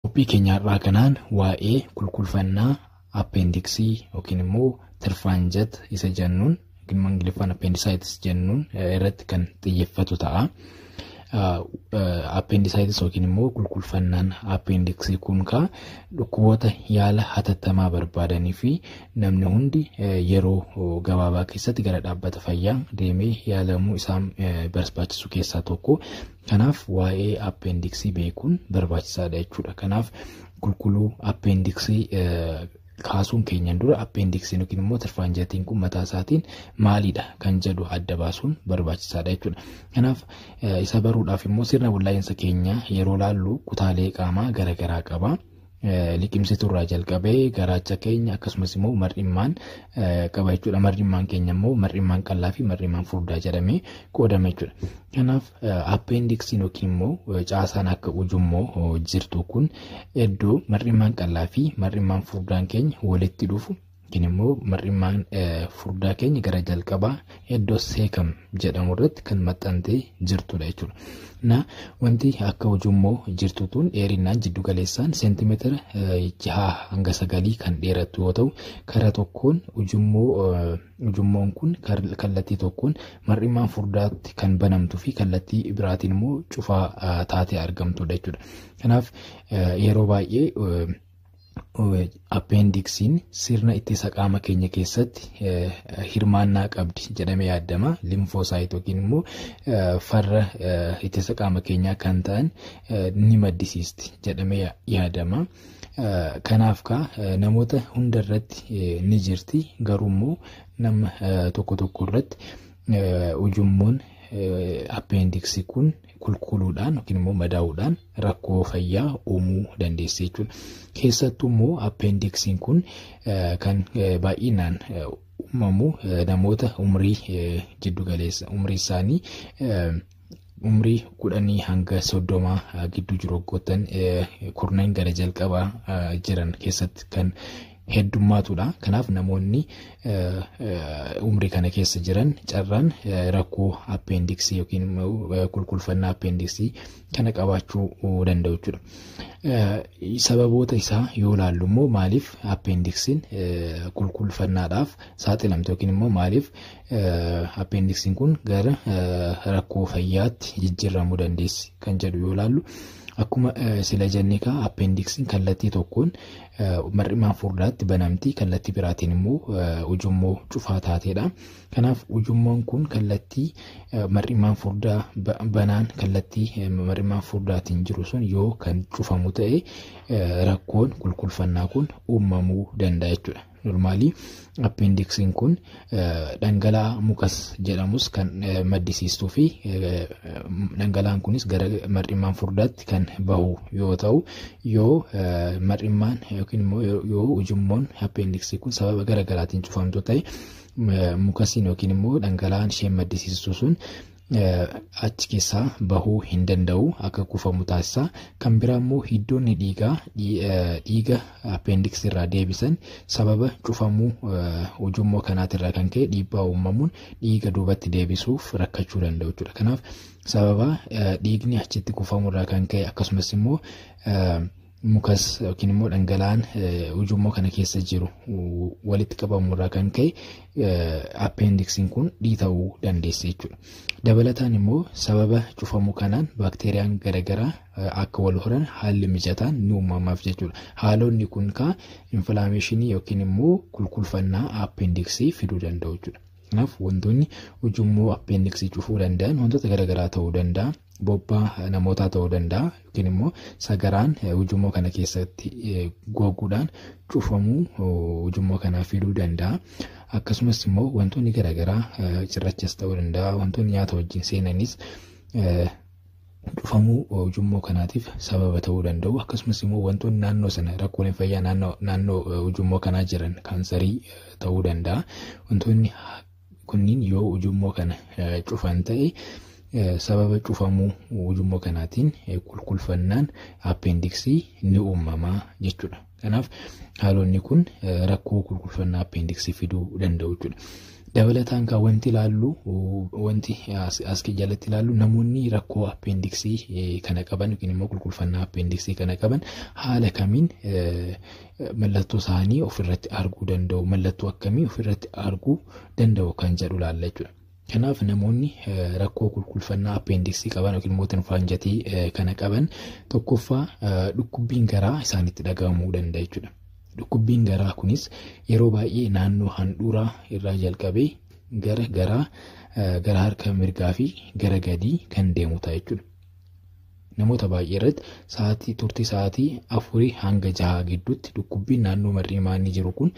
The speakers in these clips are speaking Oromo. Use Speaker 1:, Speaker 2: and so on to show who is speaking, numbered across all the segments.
Speaker 1: Qophii keenya har'aa kanaan waa'ee kulkulfannaa appeendiksii yookiin immoo tirfaanjat isa jennuun yookiin immoo ingiliffaan appeendisaaytis jennuun irratti kan xiyyeeffatu ta'a. Appeendisaaytis yookiin immoo kulkulfannaan appeendiksii kun kaa dhukkuboota yaala hatattamaa barbaadanii fi namni hundi yeroo gabaabaa keessatti gara dhaabbata fayyaa deemee yaalamuu isaan barbaachisu keessaa tokko. Kanaaf waa'ee appeendiksii beekuun barbaachisaadha jechuudha. Kanaaf qulqulluu appeendiksii kaasuun keenyan dura appeendiksiin yookiin immoo tirfaanjatiin kun mataa isaatiin maalidha kan jedhu adda baasuun barbaachisaadha jechuudha. Kanaaf isa baruudhaaf immoo sirna wallaa'insa keenya yeroo laallu kutaalee qaamaa garaagaraa qaba. liqimsituu irraa jalqabee garaacha keenya akkasumas immoo mar'immaan qaba jechuudha. Mar'immaan keenya immoo mar'immaan qal'aa fi mar'immaan furdaa jedhamee qoodama jechuudha. Kanaaf appeendiksiin yookiin immoo caasaan akka ujummoo jirtu kun iddoo mar'immaan qal'aa fi mar'immaan furdaan keenya walitti dhufu Yookiin immoo mar'immaan furdaa keenya gara jalqabaa iddoo seekam jedhamu irratti kan maxxantee jirtudha jechuudha. Na wanti akka ujummoo jirtu tun dheerinaan jiddu galeessaan seentimeetira jaha hanga sagalii kan dheerattu yoo ta'u karaa tokkoon ujummoo ujummoon kun kallattii tokkoon mar'immaan furdaatti kan banamtu fi kallattii biraatiin immoo cufaa taatee argamtudha jechuudha. Kanaaf yeroo baay'ee Appeendiksiin sirna ittisa qaama keenya keessatti hirmaannaa qabdi jedhamee yaadama. Limfoosaayit yookiin immoo farra ittisa qaama keenyaa kan ta'an ni maddisiisti jedhamee yaadama. Kanaaf kaa namoota hunda irratti ni jirti garuu immoo nama tokko tokko irratti ujummoon appeendiksii kun kulkuluudhaan yookiin immoo madaa'uudhaan rakkoo fayyaa uumuu dandeessi jechuudha. Keessattuu immoo appeendiksiin kun kan baay'inaan uumamu namoota umrii jiddu galeessa umrii isaanii umrii kudhanii hanga soddomaa gidduu jiru waggoottan kurnan gara jalqabaa jiran keessatti kan heddummaatuudha. Kanaaf namoonni umrii kana keessa jiran carraan rakkoo appeendiksii yookiin kulkulfannaa appeendiksii kana qabaachuu danda'u jechuudha. Sababoota isaa yoo ilaallu immoo maaliif appeendiksiin kulkulfannaadhaaf saaxilamte yookiin immoo maaliif appeendiksiin kun gara rakkoo fayyaatti jijjiiramuu dandeessi kan jedhu yoo ilaallu. Akkuma sila jennee kaa appeendiksiin kallattii tokkoon mar'imaan furdaatti banamti kallattii biraatiin immoo ujummoo cufaa taateedha. Kanaaf ujummoon kun kallattii mar'imaan furdaa banaan kallattii mar'imaan furdaatiin jiru sun yoo kan cufamu ta'e rakkoon kulkulfannaa kun uumamuu danda'a jechuudha. Normaalii Appeendiksiin kun dhangala'aa mukas jedhamus kan maddisiistuu fi dhangala'aan kunis gara mar'immaan furdaatti kan bahu yoo ta'u yoo mar'immaan yookiin immoo yoo ujummoon appeendiksii kun sababa gara garaatiin cufamtu ta'e mukasiin yookiin immoo dhangala'aan isheen maddisiistu sun achi keessaa bahuu hin danda'u akka kuufamu taasisa. Kan biraa immoo hiddoonni dhiigaa dhiiga appeendiksii irraa deebisan sababa cufamuu ujummoo kanaatirraa kan ka'e dhiibbaa uumamuun dhiiga duubatti deebisuuf rakkachuu danda'u jechuudha. Kanaaf sababa dhiigni achitti kuufamurraa kan ka'e akkasumas immoo mukas yookiin immoo dhangala'aan ujummoo kana keessa jiru walitti qabamu irraa kan ka'e appeendiksiin kun dhiita'uu dandeessi jechuudha. Dabalataan immoo sababa cufamuu kanaan baakteeriyaan garaagaraa akka wal horan haalli mijataan ni uumamaaf jechuudha. Haalonni kun kaa infilaameeshinii yookiin immoo kulkulfannaa appeendiksii fiduu danda'u jechuudha. Kanaaf wantoonni ujummoo appeendiksii cufuu danda'an wantoota garaagaraa ta'uu danda'a. Bobbaa namootaa ta'uu danda'a yookiin immoo sagaraan ujummoo kana keessatti goguudhaan cufamuu ujummoo kanaa fiduu danda'a. Akkasumas immoo wantoonni garaagaraa cirrachas ta'uu danda'a wantoonni nyaata wajjin seenanis Cufamuu ujummoo kanaatiif sababa ta'uu danda'u. Akkasumas immoo wantoonni naannoo sana rakkooleen fayyaa naannoo naannoo eh, ujummoo kanaa jiran kaansarii eh, ta'uu danda'a. Wantoonni ha- kunniin yoo ujummoo kana eh, cufan ta'e eh, sababa cufamuu ujummoo kanaatiin eh, kulkulfannaan appendiksii ni uumama jechuudha. Kanaaf haalonni kun rakkoo kulkulfannaa appeendiksii fiduu danda'u jechuudha. Dabalataan kan wanti ilaallu wanti as jalatti ilaallu namoonni rakkoo appeendiksii kana qaban yookiin immoo kulkulfannaa appeendiksii kana qaban haala kamiin mallattoo isaanii ofirratti arguu danda'u mallattoo akkamii ofirratti arguu danda'u kan jedhu ilaalla jechuudha. Kanaaf namoonni rakkoo kulkulfannaa appeendiksii qaban yookiin immoo tinfaanjatii kana qaban tokkoffaa dhukkubbiin garaa isaanitti dhaga'amuu danda'a jechuudha. Dhukkubbiin garaa kunis yeroo baay'ee naannoo handhuuraa irraa jalqabee gara garaa gara harka mirgaa fi gara gadii kan deemu ta'a jechuudha. Namoota baay'ee irratti sa'aatii turtii sa'aatii afurii hanga jahaa gidduutti dhukkubbiin naannoo mar'ii maanii jiru kun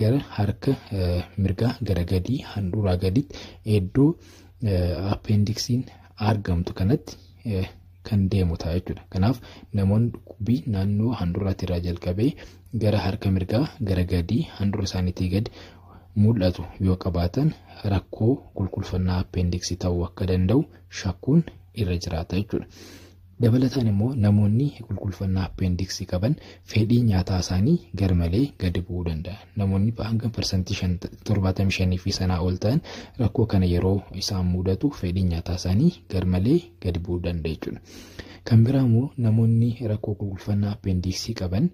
Speaker 1: gara harka mirgaa gara gadii handhuuraa gaditti iddoo appendiksiin argamtu kanatti kan deemu ta'a jechuudha. Kanaaf namoonni dhukkubbii naannoo handhuuraatti irraa jalqabee gara harka mirgaa gara gadii handhuura isaaniitii gadi mul'atu yoo qabaatan rakkoo qulqulfannaa appendiksii ta'uu akka danda'u shakkuun irra jiraata jechuudha. Dabalataan immoo namoonni kulkulfannaa appeendiksii qaban fedhii nyaataa isaanii garmalee gadi bu'uu danda'a. Namoonni hanga parsantii 75 fi sanaa ol ta'an rakkoo kana yeroo isaan mudatu fedhii nyaataa isaanii garmalee gadi bu'uu danda'a jechuudha. Kan biraa immoo namoonni rakkoo kulkulfannaa appeendiksii qaban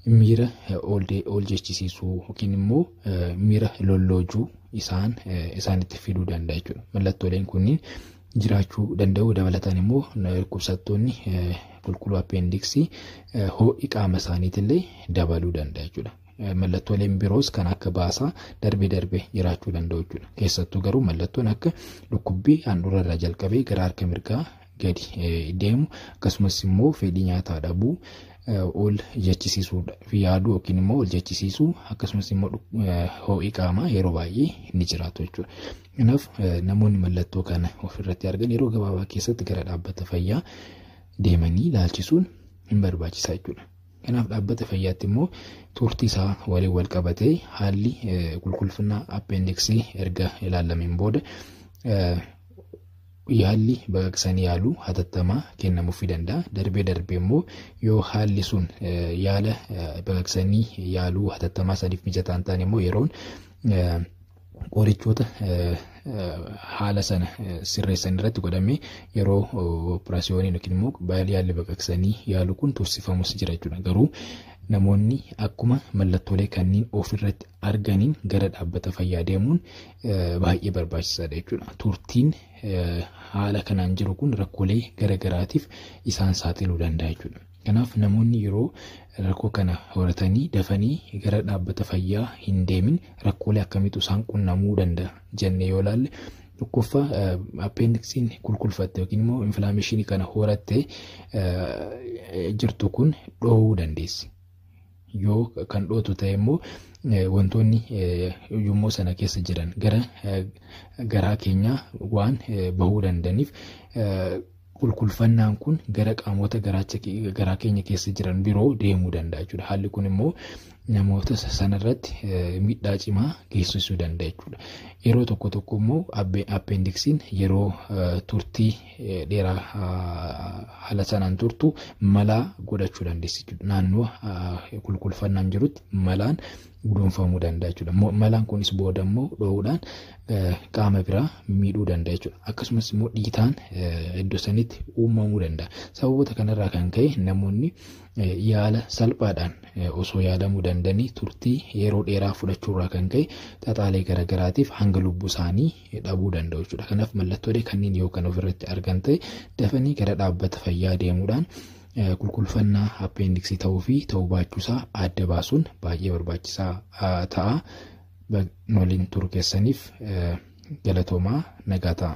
Speaker 1: miira ol jechisiisuu yookiin immoo miira lolloojuu isaan isaanitti fiduu danda'a jechuudha. Mallattooleen kunniin jiraachuu danda'u dabalataan immoo dhukkubsattoonni qulqulluu appeendiksii ho'i qaama isaaniitillee dabaluu danda'a jechuudha. Mallattooleen biroos kan akka baasaa darbee darbee jiraachuu danda'u jechuudha. Keessattuu garuu mallattoon akka dhukkubbii handhuura irraa jalqabee gara harka mirgaa gadi deemu akkasumas immoo fedhii nyaataa dhabuu ol jechisiisuu fi yaaduu yookiin immoo ol jechisiisuu akkasumas immoo ho'i qaamaa yeroo baay'ee ni jiraatu jechuudha. Kanaaf namoonni mallattoo kana ofirratti argan yeroo gabaabaa keessatti gara dhaabbata fayyaa deemanii ilaalchisuun hin barbaachisa jechuudha. Kanaaf dhaabbata fayyaatti immoo turtii isaa waliin wal qabatee haalli qulqullinaa appeendiksii erga ilaalameen booda Yaalli baqaqsanii yaaluu hatattamaa kennamuufi danda'a. Darbee darbee immoo yoo haalli sun yaala baqaqsanii yaaluu hatattamaa saniif mijataa hin taane immoo yeroon qorichoota haala sana sirreessan irratti godhamee yeroo operaasiyooniin yookiin immoo baay'ee yaalli baqaqsanii yaaluu kun tursifamus jira jechuudha. Garuu namoonni akkuma mallattoolee kanneen ofirratti arganiin gara dhaabbata fayyaa deemuun baay'ee barbaachisaadha jechuudha. Turtiin haala kanaan jiru kun rakkoolee garaagaraatiif isaan saaxiluu danda'a jechuudha. Kanaaf namoonni yeroo rakkoo kana horatanii dafanii gara dhaabbata fayyaa hin deemin rakkoolee akkamiitu isaan qunnamuu danda'a jennee yoo ilaalle tokkoffaa appeendiksiin kulkulfatte yookiin immoo infilaameeshinii kana horattee jirtu kun dhoowuu dandeessi. Yoo kan dhootu ta'e immoo wantoonni ujummoo sana keessa jiran gara garaa keenyaa waan bahuu danda'aniif kulkulfannaan kun gara qaamota garaacha garaa keenya keessa jiran biroo deemuu danda'a jechuudha. Haalli kun immoo namoota sanarratti miidhaa cimaa geessisuu danda'a jechuudha. Yeroo tokko tokko immoo appeendiksiin yeroo turtii dheeraa haala sanaan turtu malaa godhachuu dandeessi jechuudha. Naannoo kulkulfannaan jirutti malaan guduunfamuu danda'a jechuudha. Malaan kunis booda immoo dho'uudhaan qaama biraa miidhuu danda'a jechuudha. Akkasumas immoo dhiitaan iddoo sanitti uumamuu danda'a. Sababoota kanarraa kan ka'e namoonni yaala salphaadhaan osoo yaalamuu danda'anii turtii yeroo dheeraa fudhachuurraa kan ka'e xaxaalee garaagaraatiif hanga lubbuu isaanii dhabuu danda'u jechuudha. Kanaaf mallattoolee kanneen yoo kan ofirratti argan ta'e dafanii gara dhaabbata fayyaa deemuudhaan qulqulfannaa appeendiksii ta'uu fi ta'uu baachuusaa adda baasuun baay'ee barbaachisaa ta'a. Waliin turu keessaniif galatoomaa nagaa ta'a.